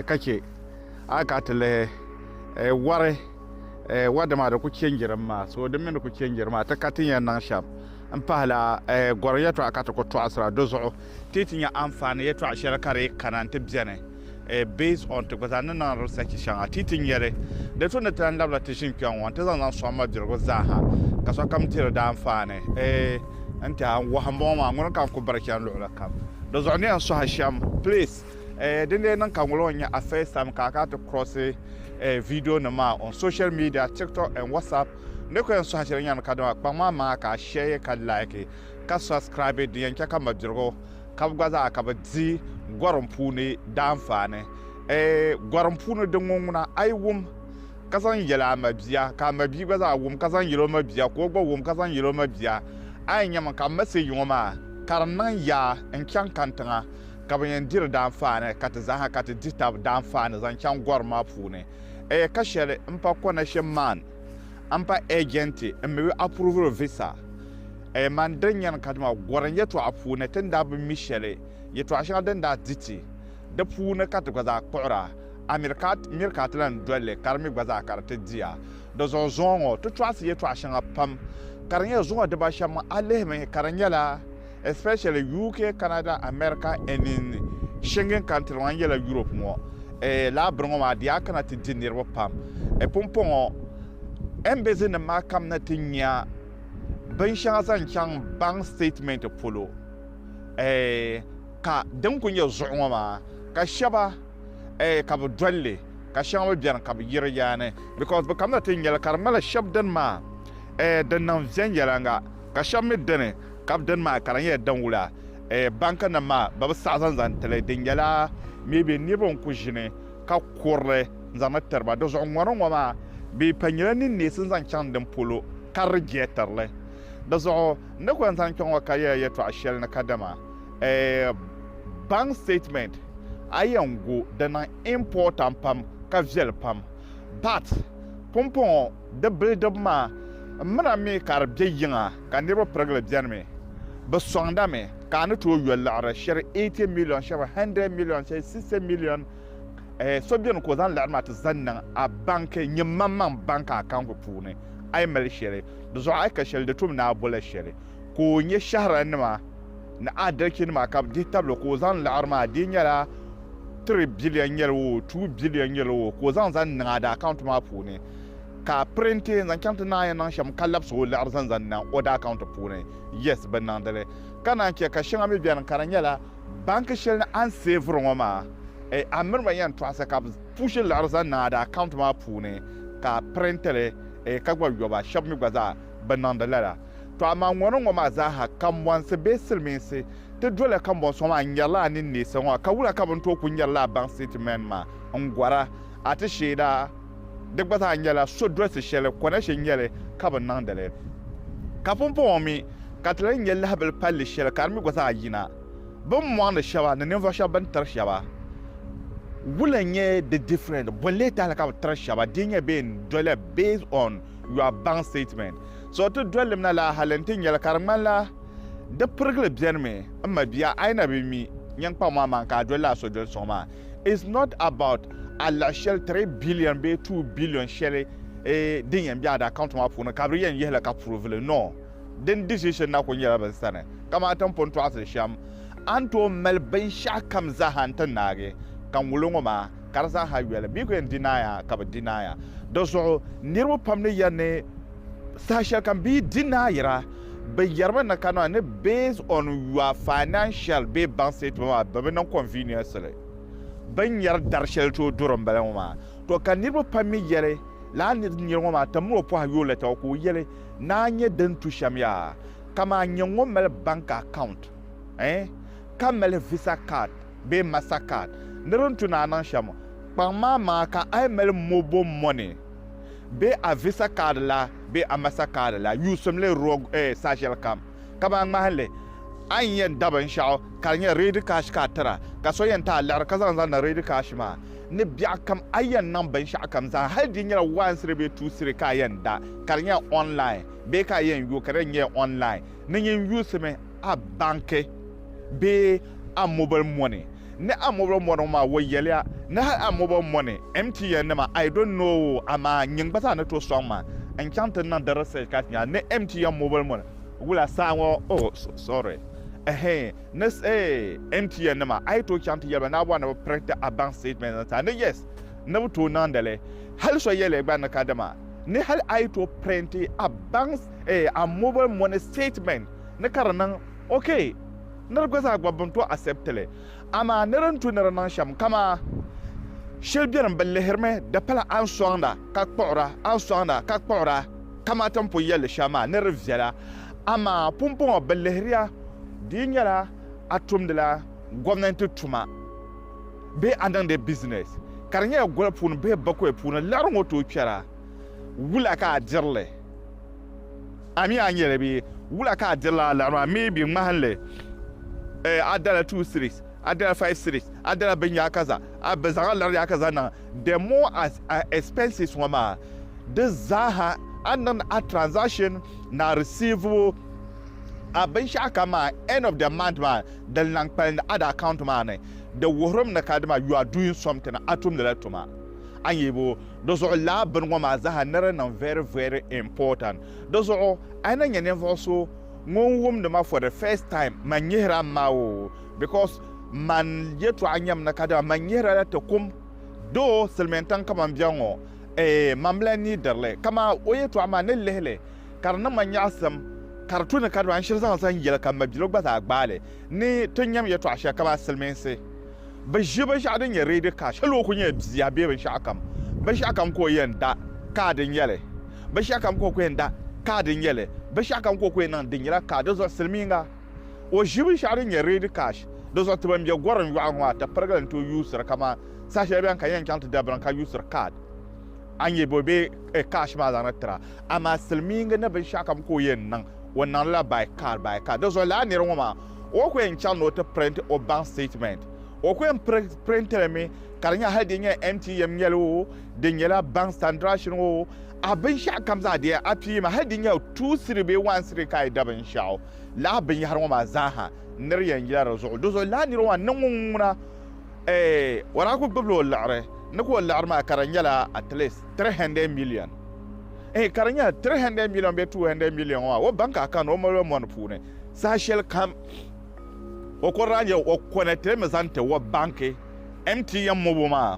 ka chɛ a ka ti lihi wari wadama di ku chɛnjiri maa so di mini di ku chɛnjiri maa ti ka ti yɛn niŋ shɛm N pahila gɔri yɛtɔɣa ka ti ku tɔɣisira di zuɣu ti ti nya anfaani yɛtɔɣa shɛli ka di kana nti beni based on ti gba zaa ni niŋ research shɛŋa ti ti nya li. Di tu ni ti lan labila ti ʒini kpɛŋ ŋɔ nti zaŋ zaŋ sɔŋ mabirigu zaa ha ka sokam diri di anfaani. N tɛha n wahu m-bɔŋɔ maa ŋuni ka n ku biri chani luɣili kam di zuɣu ni yɛn sɔhi shɛm please. Din lee niŋ ka ŋ ŋɔ nya a first time ka a kana ti cross video nim maa on social media, tiktok and whatsapp N ni ku yɛn sɔhi shɛli nyɛmi kadama kpaŋ maa maŋa ka a shɛɛ ka laiki ka subscribe din yɛn chɛ ka mabirigu kabi gba zaa ka bɛ di gɔrim puuni daanfaani. Eei gɔrim puuni din ŋɔ ŋuna a yi wum ka zaŋ yɛli a mabia ka a mabia gba zaa wum ka zaŋ yɛli o mabia ka o gba wum ka zaŋ yɛli o mabia a yɛn nyɛmi ka message ŋɔ maa ka di niŋ yaa n chaŋ kani tiŋa ka bɛ yɛn diri daanfaani ka ti zaaha ka ti di tab daanfaani zaŋ chaŋ gɔrim maa puuni. Ɛɛ ka shɛli n pa connection man n pa agent n mi wi approval visa Ɛɛ man din nyani kadima gorim yɛtɔɣa puuni ti ni daa bi mi shɛli yɛtɔɣa shɛŋa din daa di ti di puuni ka ti gba zaa kpuɣira a miri ka miri ka ti lan doli li ka di mi gba zaa ka di ti di a di zuɣu zuŋɔ ŋɔ ti tɔɣisi yɛtɔɣa shɛŋa pam ka di nyɛ zuŋɔ diba shɛm a lihimi ka di nyɛla especially UK, Canada, America and in Schengen country ŋɔ n yɛla Europe ŋɔ eh, laa biri ŋɔ maa di yaa kana ti di niriba pam eh, pumpɔŋɔ embassy nim maa kam na ti nya bin shɛŋa zaŋ chaŋ bank statement polo eh, ka din ku nyɛ zuɣu ŋɔ maa ka shɛba eh, ka bi dolli ka shɛŋa mi bɛni ka bi yiri yaani because bi kam na ti nyɛli ka di mali shɛb dini maa eh, din niŋ viɛnyɛlanga. Ka shɛba mi dini ka bi dini maa ka di nyɛla din wula bank nim maa bɛ bi saɣi zaŋ zaŋ tili di nyɛla maybe niriba n ku ʒini ka kurili n zaŋ ni tiriba di zuɣu ŋɔ ni ŋɔ maa bɛ pa nyɛla ni neesi zaŋ chaŋ din polo ka di jeetirili di zuɣu n ni ku yɛn zaŋ kpɛ ŋɔ ka yɛla yɛltɔɣa shɛli ni ka dama bank statement a yɛn gu di niŋ important pam ka viɛli pam but pumpɔŋɔ Di bilidibu maa, m mina mi ka di be yiŋa ka niriba pirigili beni mi. Bɛ sɔŋda mi ka a ni tooi yo liɣiri shiri 80 miliyon shɛba 100 miliyon shɛli 60 miliyon eh so beni ka o zaŋ liɣiri maa ti zaŋ niŋ a banki nyiŋmaŋmaŋ banki akaunti puuni a yi mali shɛli di zuɣu a yi ka shɛli di tum ni a bola shɛli ka o nyɛ shɛhirannima ni adalikinima ka bɛ dihi tabili ka o zaŋ liɣiri maa di yi nyɛla 3 biliyon nyɛli oo 2 biliyon nyɛli oo ka o zaŋ zaŋ niŋ a di akaunti maa puuni ka a printe n-zaŋ chaŋ ti naai niŋ shɛm ka labisi o liɣiri zaŋ zaŋ niŋ o daa kaunti puuni. Yes, bɛ niŋdi li. Ka naan chɛ ka shɛŋa mi beni ka di nyɛla banki shɛli ni a ni seeviri ŋɔ maa, eh, a miri ba yɛn tɔɣisi ka bɛ puushi liɣiri zaŋ niŋ a daa kaunti maa puuni ka a printe li, eh, ka gba yo ba. Shɛba mi gba zaa bɛ niŋdi lala. Tɔ amaa ŋɔni ŋɔ maa zaa ha, kambɔnsi bee silimiinsi ti doli kambɔnsi ŋɔ maa n-nyarila a ninneesa ŋɔ, ka wula ka bɛ ni tooi kuli nyari li a baŋ sitatimɛnt maa n-gɔra a ti sheeda? Di gba zaa nyɛla sodolisi shɛli Konashe nya li ka bi niŋdi li. Ka pumpɔŋɔ mi ka ti lahi nya lahibili palli shɛli ka di mi gba zaa yina bini mɔŋdi shɛba ni ninvuɣ shɛba bini tiri shɛba wula n-nyɛ di different bɔn leei tahili ka bi tiri shɛba di nyɛ bee n-doliya based on your bank statement. So ti dolilim na la hali n-ti nya li ka di ŋmanila di pirigili benimi. M mabia a yi na bi mi nyin kpaŋ maa maa n-ka a doli la a sodoli suŋ maa. It's not about alahi shɛli three billion bee two billion shɛli din yɛn be a da account maa puuni ka bɛ yɛn yihili ka prove li no din decision na kuli nyɛla bɛ sani kamani ti ni pun tɔɣisiri shɛm a ni tooi mali binshɛɣu kam zaaha n ti naagi ka ŋulo ŋɔ maa ka di zaaha yoli bɛ yi kuli yɛn deny a ka bɛ deny a di zuɣu niriba pam ni yɛli ni saha shɛlikam bɛ yi deny a yira Bɛ yɛrimi ni ka niŋ ni based on your financial bee bank statement maa bɛ bi niŋ convenience li bɛ ni yɛri dari shɛli tooi duri m-bala ŋɔ maa. To ka niriba pam mi yɛli lala ni di niri ŋɔ maa tim ni o pɔhi yooi lɛta ŋɔ ka o yɛli ni a nya din tu shɛm yaa kaman nyɛ ŋun mali bank account ɛɛn ka mali visa card bee master card ni di ni tu ni a niŋ shɛm kpaŋ maa maŋa ka a yi mali mobile money bee a visa kaadi la bee a masa kaadi la yuusim li roog eh, saashɛli kam. Kamani ŋmahinli, a ni yɛn da binshɛɣu ka di nyɛ reedi kaashi ka a tira, ka so yɛn ti a liɣiri ka zaŋ zaŋdi reedi kaashi maa ni biɛɣu kam, a yɛn niŋ binshɛɣu kam zaa hali di nyɛla waansiri bee tuusiri ka a yɛn da ka di nyɛ online bee ka a yɛn yo ka di nyɛ online ni nyin yuusimi a banki. bee Amobel mɔni ni Amobel mɔni ŋɔ maa, o yɛliya ni hal Amobel mɔni MTN nima I don't know amaa nyin gba zaa ni tooi sɔŋ ma n chaŋ ti niŋ di research ka ti nya ni MTN mobel mɔni wula saa ŋɔ oh sorry ɛhɛɛn ni eh MTN nima a yi tooi chaŋ ti yɛliba ni a bɔri ni bi print a bank statement zaŋ ti a ni yes ni bi tooi niŋdi li hal so yɛliya gba ni kadama ni hal a yi tooi print a bank eh Amobel mɔni statement ni ka di niŋ Ok, ni di gba zaa gbabi bini to accept li. Amaa ni di ni tu ni di niŋ shɛm kamaa shɛli beni bi lihirimi di pala a ni sɔŋda ka kpuɣira a ni sɔŋda ka kpuɣira kamaa ti ni pun yɛli shɛm maa ni di viɛla amaa pumpɔŋɔ bi lihiriya di yi nyɛla a tumdila gomnanti tuma bee a niŋdi business ka di nyɛla goli puuni bee bakoya puuni liɣiri ŋɔ tooi kpɛra wula ka a dirili. A mi a ni yɛli bɛ, Wula ka a dirila a laɣiri maa? M mi bɛ ŋmahim li. Eh, a dala two cedis, a dala five cedis, a dala binyahikaza, a bi zaŋ a laɣiri yaha ka zaŋ niŋ. The more as a expenses ŋɔ maa, di zaaha a ni niŋdi a transaction ni a risiivibu a binshɛɣu kam maa end of the month maa, din lahi kpalim a di account maa ni, di wuhirimi ni kadama you are doing something, a tumdila tuma. A ni yɛli bɛ, Di zuɣu lala bini ŋɔ maa zaa ni di niŋ very very important. Di zuɣu a yi na nya ninvuɣu so ŋun wumdi ma for the first time man nyihira m ma o because man yɛtɔɣa nyam ni kadama man nyihira la ti kum though silimiintiŋ ka man be ŋɔ eh man bi lahi neediri li ka maa o yɛtɔɣa maa ni lihili ka di niŋ ma nyaɣisim ka di tu ni kadama n shiri zaŋ zaŋ yɛli ka mabiligu gba zaa gbaali Ni ti nyam yɛtɔɣ shɛli kamani silimiinsi bi ʒi binshɛɣu din nyɛ ready cash hali o kuli nyɛla bia bee binshɛɣukam, binshɛɣukam ka o yɛn da kaad n-nyɛ li, binshɛɣukam ka o kuli yɛn da kaad n-nyɛ li, binshɛɣukam ka o kuli yɛn niŋ di nyɛla kaad. Dinzuɣu silimiinga o ʒi binshɛɣu din nyɛ ready cash. Dinzuɣu ti ban be gɔrim yɔɣu ŋɔ maa ti pirigili n-tooi yuusiri kamani saha shɛli bɛn kan yɛn chaŋ ti dabiri ni ka yuusiri kaad a nyɛ bɔ bee cash maa zaŋdi tira. Amaa silimiinga ni binshɛɣukam ka o yɛn niŋ. O niŋdi la by card by card. Di zuɣu lala nira ŋɔ maa o ku yɛn chaŋ ni o ti print o bank statement. O ku yɛn print li mi ka di nyɛ hali di nyɛla MTM nyɛli oo, di nyɛla bank standrashing oo, a binshɛɣu kam zaa di yɛn appear mi. Hali di nyɛ two cedi bee one cedi ka a yi da binshɛɣu, lala binyɛhiri ŋɔ maa zaa ha nir yɛn yila di zuɣu. Di zuɣu lala nira ŋɔ maa niŋ ŋun ŋuna eeh o daa ku gbibila o liɣiri ni ka o liɣiri maa ka di nyɛla at least three hundred million. Ehe, ka di nyɛ 300 miliɔn bee 200 miliɔn maa, o baŋ ka a kani o maliba mɔni puuni saha shɛli kam. O kɔri daa nyɛ o kɔni ti mi zaŋ ti o banki MTN mobo maa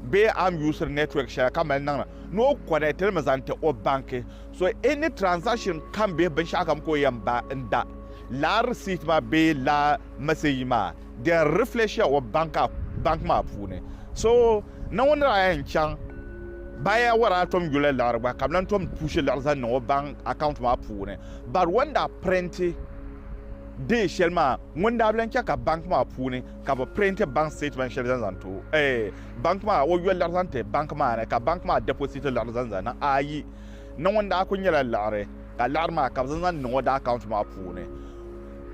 bee a ni yuusiri network shɛli ka mali niŋda ni o kɔni ti mi zaŋ ti o banki. So any transaction kam bee binshɛɣu kam ka o yɛn ba n-da, lala receipt maa bee lala message maa di yɛn reflect-ya o banki maa puuni. So. Naawuni ni daa yɛn chaŋ baaya waraa tom yuli liɣiri gba ka bɛ lan tom puushi liɣiri zaŋ niŋ o bank account maa puuni. But o ni daa printi day shɛli maa ŋun daa bi lan chɛ ka bank maa puuni ka bɛ printi bank statement shɛli zaŋ zaŋ ti o eeh bank maa o yo liɣiri zaŋ ti bank maa ni ka bank maa deposit liɣiri zaŋ zaŋ niŋ ayi Naawuni daa kuli nyɛla liɣiri ka liɣiri maa ka bɛ zaŋ zaŋ niŋ o daa account maa puuni.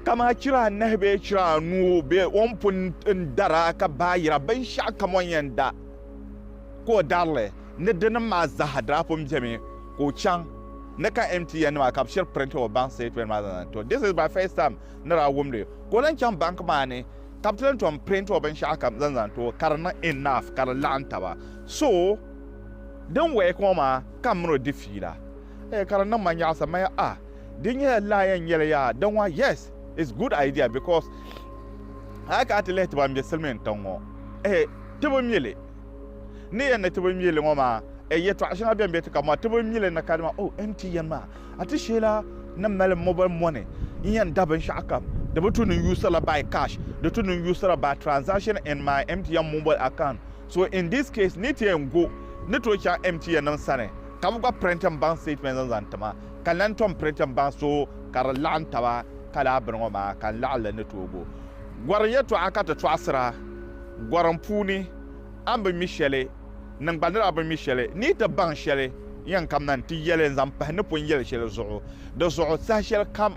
Kamani chira anahi bee chira anuu bee o ni pun dar a ka baayira binshɛɣukam o ni yɛn da ka o dari li ni dinim maa zaa daa pun bemi ka o chaŋ ni ka MTN nima ka bɛ shiri print o bank statement maa zaŋ ti o. This is my first time ni daa wum li ka o lan chaŋ bank maa ni ka bɛ ti lan tom print o binshɛɣukam zaŋ zaŋ ti o ka di niŋ enough ka di laɣim taba so din work o maa ka m mini o di fiila. Eh ka di niŋ ma nyaɣisa maya ah di nyɛla laa yɛn nyɛli yaa din wa yes it's good idea because a ka a ti lihi ti ban be silimiin tiŋ ŋɔ eh ti bi mi li ni yɛn ni ti bi mi li ŋɔ maa eh yɛtɔɣa shɛŋa bɛn be ti ka mɔri ti bi mi li ni ka di maa oh MTN maa a ti sheela ni mali mobile money n yɛn da binshɛɣu kam di bi tu ni yuusi la by cash di tu ni yuusi la by transaction in my MTN mobile account so in this case ni ti yɛn go ni tooi chaŋ MTN nim sani Ka bɛ gba print m-baŋ statement zaŋ zaŋ ti ma, ka n lan tom print m-baŋ so ka di laɣim taba ka laa bini ŋɔ maa, ka n laɣim li ni tooi bo. Gɔrim yɛtɔɣa ka ti tɔɣisira gɔrim puuni, a ni bi mi shɛli, niŋ gba nira bi mi shɛli, ni yi ti baŋ shɛli yɛnkam na nti yɛli n-zaŋ pahi ni pun yɛli shɛli zuɣu. Di zuɣu saha shɛli kam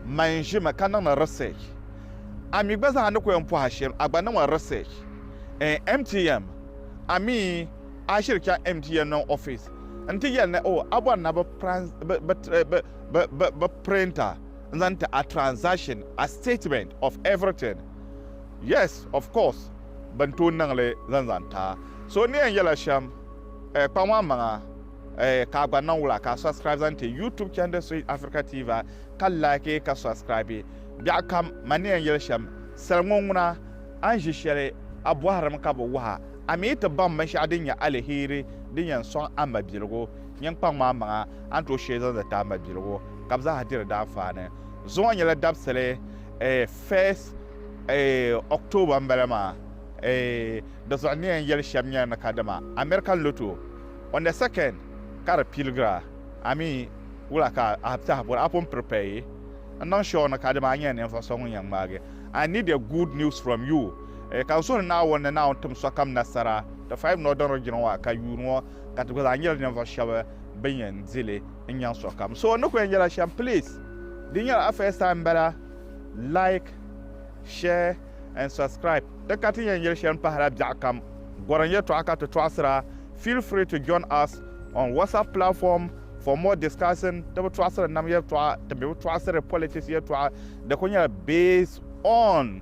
man ʒimi ka niŋdi research. A mi gba zaa ni ku yɛn pɔhi a shɛm, a gba niŋmi research. Ɛɛn MTM, a mi. A shiri chaŋ MTN niŋ ofis n-ti yɛli ni o, a bɔri na bɛ print a n-zaŋ ti a transaction, a statement of everything. Yes, of course, bɛ ni tooi niŋ li zaŋ zaŋ ti a. So ni yɛn yɛla shɛm, kpaŋ a maŋa ka a gba niŋ wula ka a subscribe zaŋ ti YouTube channel Swahili Africa TV ka like ka subscribe. Biɛɣukam, mani ni yɛn yɛli shɛm, sal ŋɔ ŋuna a ni ʒi shɛli a bɔhirimi ka bi wahi a. A mi yi ti baŋ binshɛɣu din nyɛ aliheri din yɛn sɔŋ a mabiligu nyiŋkpaŋ maa maŋa, a ni tooi shee zaŋ zali ti a mabiligu ka bɛ zaaha diri daanfaani. Zuŋɔ nyɛla dabisili eh, first eh, October m-bala maa eh, di zuɣu ni yɛn yɛli shɛm nyɛla ni kadama American Lotto on the second ka di piligira. A mi wula ka a saha bɔri? A pun prepare n-niŋ sure ni kadama a nyɛla ninvuɣu so ŋun yɛn ŋmaagi? I need a good news from you. Ka n suhiri Naawuni ni Naawuni tim sokam nasara, ti fahim ni o daŋdi jina ŋɔ ka yuun ŋɔ, ka ti gba zaa nyɛla ninvuɣ shɛb bɛn yɛn di li n-nyaŋ sokam. So ni ku yɛn yɛla shɛm, please, di nyɛla a first time m-bala, like, share and subscribe. Di ka ti yɛn yɛli shɛli m-pahila biɛɣukam, gɔrim yɛtɔɣa ka ti tɔɣisira. Feel free to join us on WhatsApp platform for more discussing. Ti bi tɔɣisiri nam yɛtɔɣa, ti mi bi tɔɣisiri politics yɛtɔɣa. Di ku nyɛla based on.